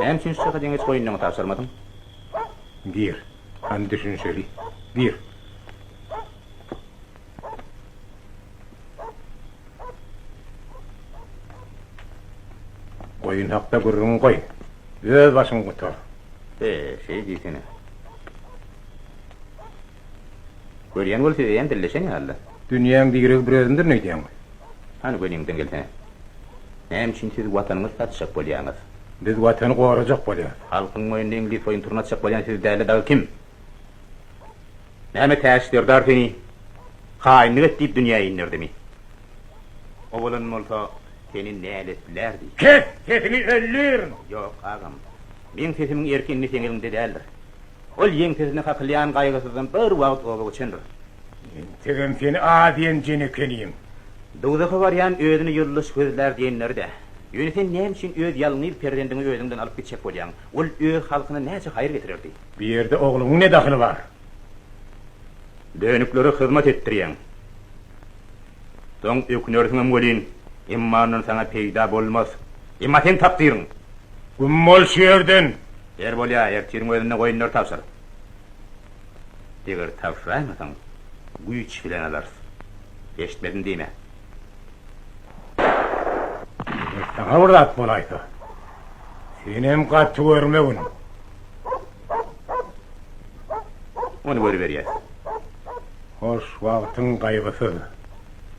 Näme üçin şu çaka deňeç goýunlaňy tabşyrmadyň? Gir, hany düşünişeli. Gir. Goýun hakda gürrüňi goý. Öz başyňy gutar. He, şeý diýsene. Görýän bol siz eýýäm dilleşen ýaly. Dünýäň diregi bir özüňdir neýdýäňmi? Hany göniňden gelsene. Näme üçin siz watanyňyzy satjak bolýaňyz? Biz watany gorajak bolýas. Halkyň moýnuna iňlis oýunturyny atjak bolýan siz dälde dagy kim? Näme Täç serdar seni haýynlyk et diýip dünýä inderdimi? Owadan bolsa seni näletlärdi? Kes! Sesiňi öldürin! Ýok, agam. Meň sesimiň erki indi seň eliňde däldir. Ol ýeňsesine kakylýan gaýgysyzdan bir wagt oba göçendir. Entegem seni az ýenjen ekeniň. Dowzaha barýan özüni ýyldyş gözlär diýenleri-dä. Ýöne sen näme üçin öz ýalňyz perzendiňi özüň bilen alyp gitjek bolýaň? Ol öz halkyna näçe haýyr getirerdi? Bu ýerde ogluňyň ne dahyly bar? Dönüklere hyzmat etdirýäň. Soň ökünersiňem welin, emma ondan saňa peýda bolmaz. Emma seň takdyryň! Güm bol şu ýerden! Ýer bolýa, ertiriň özünde goýunlary tabşyr. Eger tabşyraýmasaň, güýç bilen alarys. Eşitmedim diýme. Eger saňa bir zat bolaýsa, senem gaty görmegin. Ony görüberýäs. Hoş, wagtyň gaýgysyz.